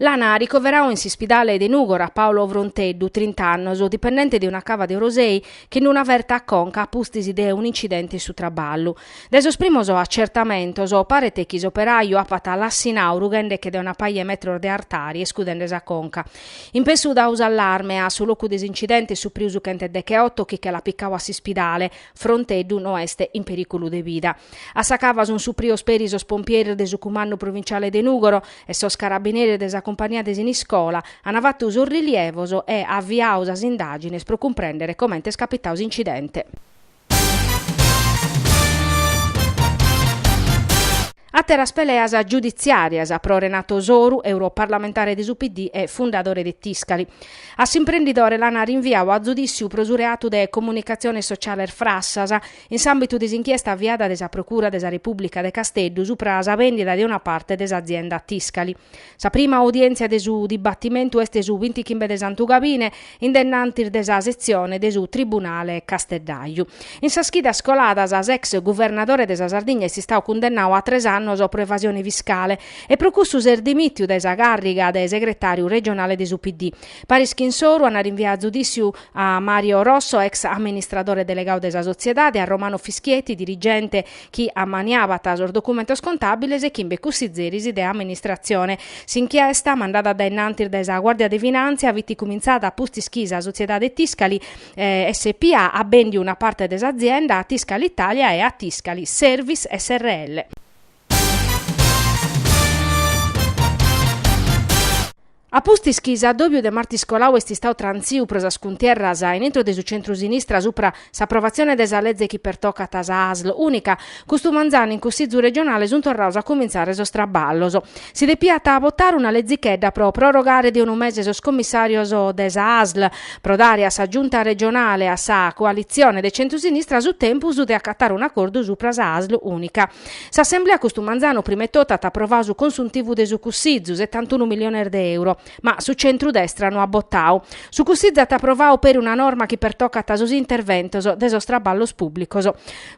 L'ana ricoverau in s'ispidale de Nùgora Paolo Fronteddu, trint'annos, dipendente de una cava de Orosei chi nd'at una ferta a conca a pustis de un'incidente in su traballu. Dae sos primos acertamentos paret chi s'operàiu apat lassinau rughende che de una paja 'e metros de artari e scudende sa conca. In pessu dau s'allarme a su locu de s'incidente est suprìu su chent'e deche-oto chi che l'at picau a s'ispidale, Fronteddu no est in perìculu de vida. A sa cava sunt suprios peri sos pompieris de su Cumandu Provinciale de Nùgoro e sos carabineris de sa cumpania de Siniscola, ant fatu sos rilievos e aviadu sas indàgines pro cumprèndere comente est capitadu s'incidente. Àteras peleas giuditziàrias pro Renato Soru, europarlamentare de su PD e fundadore de Tiscali. A s'imprendidore l'ana rinviadu a zudìssiu pro su reatu de comunicatziones sociales frassas, in s'àmbitu de s'inchiesta aviada de sa Procura de sa Repùblica de Casteddu subra sa vèndida de una parte de s'azienda Tiscali. Sa prima audièntzia de su dibatimentu est su bintichimbe de Santu Gabine, in dennantis de sa setzione de su Tribunale Casteddaju. In sas chidas coladas s'ex guvernadore de sa Sardigna est istadu cundennadu a tres annos pro evasione fiscale e pro cussu s'est dimìtiu dae sa càrriga de segretàriu regionale de su PD. Paris chin Soru ana rinviadu a zudìssiu a Mario Rosso, ex amministradore delegadu de sa sotziedade, a Romano Fischietti, dirigente, chi ammaniabat sos documentos contàbiles e chimbe cussizeris de amministratzione. S'inchiesta, mandada a dae innantis dae sa Guàrdia de Finàntzia, fit cumintzada a pustis chi sa sotziedade Tiscali SpA at bèndiu una parte de s'azienda a Tiscali Italia e a Tiscali Service srl. A pustis chi s'addòbiu de martis colau est istadu trantziu pro sas cuntierras in intro de su centru-sinistra supra s'aprovatzione de sa lege chi pertocat sa Asl ùnica, custu manzanu in Cussitzu regionale sunt torrados a comintzare sos traballos. Si depiat botare una lezichedda pro prorogare de unu mese sos commissàrios de sas Asl, pro dare a sa Giunta regionale e a sa coalitzione de centru-sinistra su tempus de acatare un'acordu supra sa Asl ùnica. S'assemblea custu manzanu prima 'e totu at aprovadu su consuntivu de su Cussizu, setantunu milliones de euro, ma su centru-destra no at botadu. Su Cussizu at aprovadu peri una norma chi pertocat sos interventos de sos traballos pùblicos.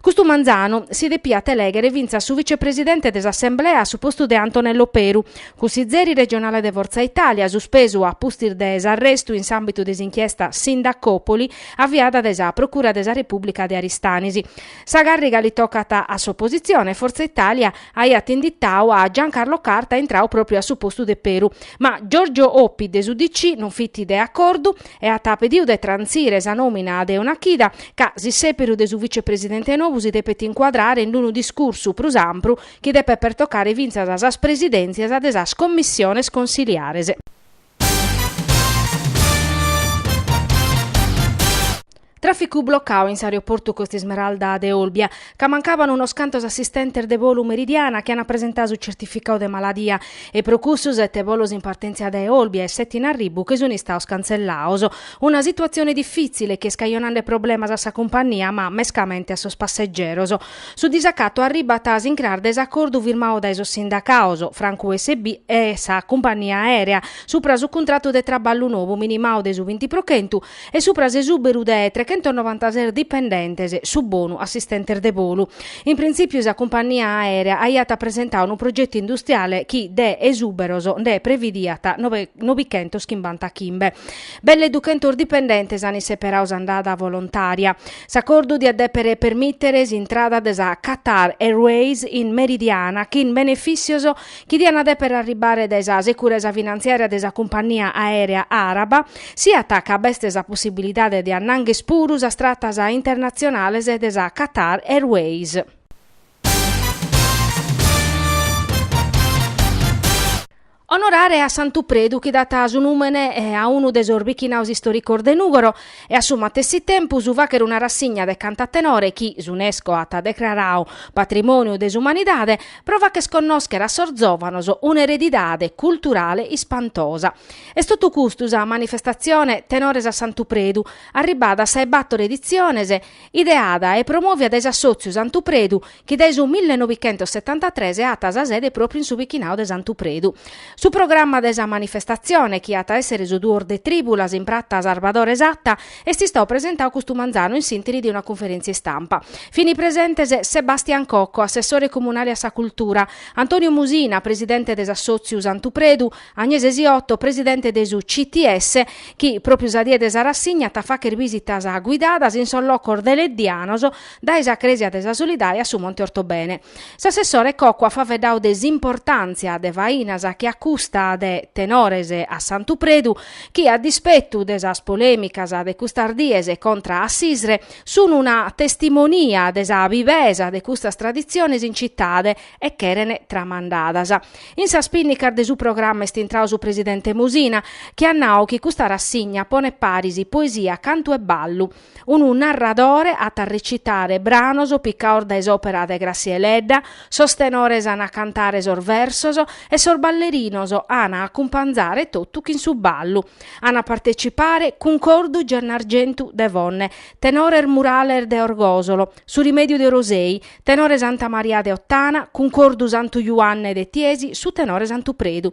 Custu manzanu si depiat elèghere fintzas su vicepresidente de s'assemblea a su postu de Antonello Peru, cussizeri regionale de Forza Italia, suspesu a pustis de s'arrestu in s'àmbitu de s'inchiesta Sindacopoli aviada dae sa Procura de sa Repùblica de Aristanis. Sa càrriga li tocat a s'opositzione, Fortza Itàlia aiat inditadu a Giancarlo Carta intradu pròpriu a su postu de Peru, ma Giorgio Oppi de s'UDC non fit de acordu e at pedidu de trantzire sa nòmina de una chida, ca s'issèperu de su vicepresidente nou si depet incuadrare in unu discursu prus ampru chi depet pertocare fintzas sas presidèntzias de sas commissiones consiliares. Tràficu blocau in s'aeroportu Costa Smeralda de Olbia, ca mancaban unos cantos assistentes de volu Meridiana chi ant presentau su certificau de maladia e pro cussu sete volos in partèntzia dae Olbia e sete in arribu che sunt istados cantzellados. Una situatzione difìtzile chi est cajonande problemas a sa cumpànnia ma mescamente a sos passegeros. Su disacatu arribat a s'incras de s'acordu firmadu dae sos sindacados, francu USB, e sa cumpagnia aèrea, supra su cuntratu de traballu nou minimadu de su binti pro chentu e supra s'esùberu de trechentonobantases dipendentes, su bonu assistentes de bolu. In printzìpiu sa cumpagnia aèrea aiat presentadu unu progetu industriale chi de esùberos nde previdiat nobe nobichentos chimbanta chimbe. Belle duchentos dipendentes an isseperadu s'andada volontària. S'acordu diat dèpere permìtere s'intrada de sa Qatar Airways in Meridiana chin benefìssios chi diant dèpere arribare dae sa securesa finantziària de sa cumpànnia aèrea àraba, siat ca b'est sa possibilidade de annànghere puru sas tratas internatzionales de sa Qatar Airways. Onorare a Santu Predu chi dat su nùmene a unu de sos bichinados istòricos de Nùgoro e a su matessi tempus fàghere una rassigna de cantu a tenore chi s'Unesco at decraradu Patrimòniu de s'Umanidade pro fagher connòschere a sos zòvanos un'eredidade culturale ispantosa. Est totu custu sa manifestatzione Tenores a Santu Predu, arribada a sa 'e bator editziones, ideada e promòvia dae s'Assòtziu Santu Predu chi dae su millenovichentossetantatres at sa sede pròpriu in su bichinadu de Santu Predu. Su programma de sa manifestatzione, chi at a èssere su duos de trìbulas in prata Sarbadore Satta, est istadu presentadu custu manzanu in s'interi de una cunferèntzia istampa. Fini presentes Sebastian Cocco, assessore comunale a sa cultura, Antonio Musina, presidente de s'assòtziu Santu Predu, Agnese Siotto, presidente de su CTS, chi, pròpriu sa die de sa rassigna, at a fàghere bìsitas guidadas in sos locos deleddianos, dae sa Crèsia de sa Solidae a su Monte Ortobene. S'assessore Cocco at faeddadu de s'importàntzia de fainas che a custa de tenores a Santu Predu chi, a dispetu de sas polèmicas de custas dies contra a s'ISRE, sun una testimonia de sa bivesa de custas traditziones in citade e cheren tramandadas. In sas pinnicas de su programma est intradu su presidente Musina chi at nadu chi custa rassigna ponet paris poesia, cantu e ballu. unu narradore at a recitare branos picaos dae s'òpera de Gràssia Deledda, sos tenores an a cantare sos versos e sos ballerinos an a acumpanzare totu chin su ballu. An a partecipare Cuncordu Gennargentu de Fonne, tenores Murales de Orgosolo, Su Rimèdiu de Orosei, tenore Santa Maria de Ottana, Cuncordu Santu Juanne de Tiesi, su tenore Santu Predu.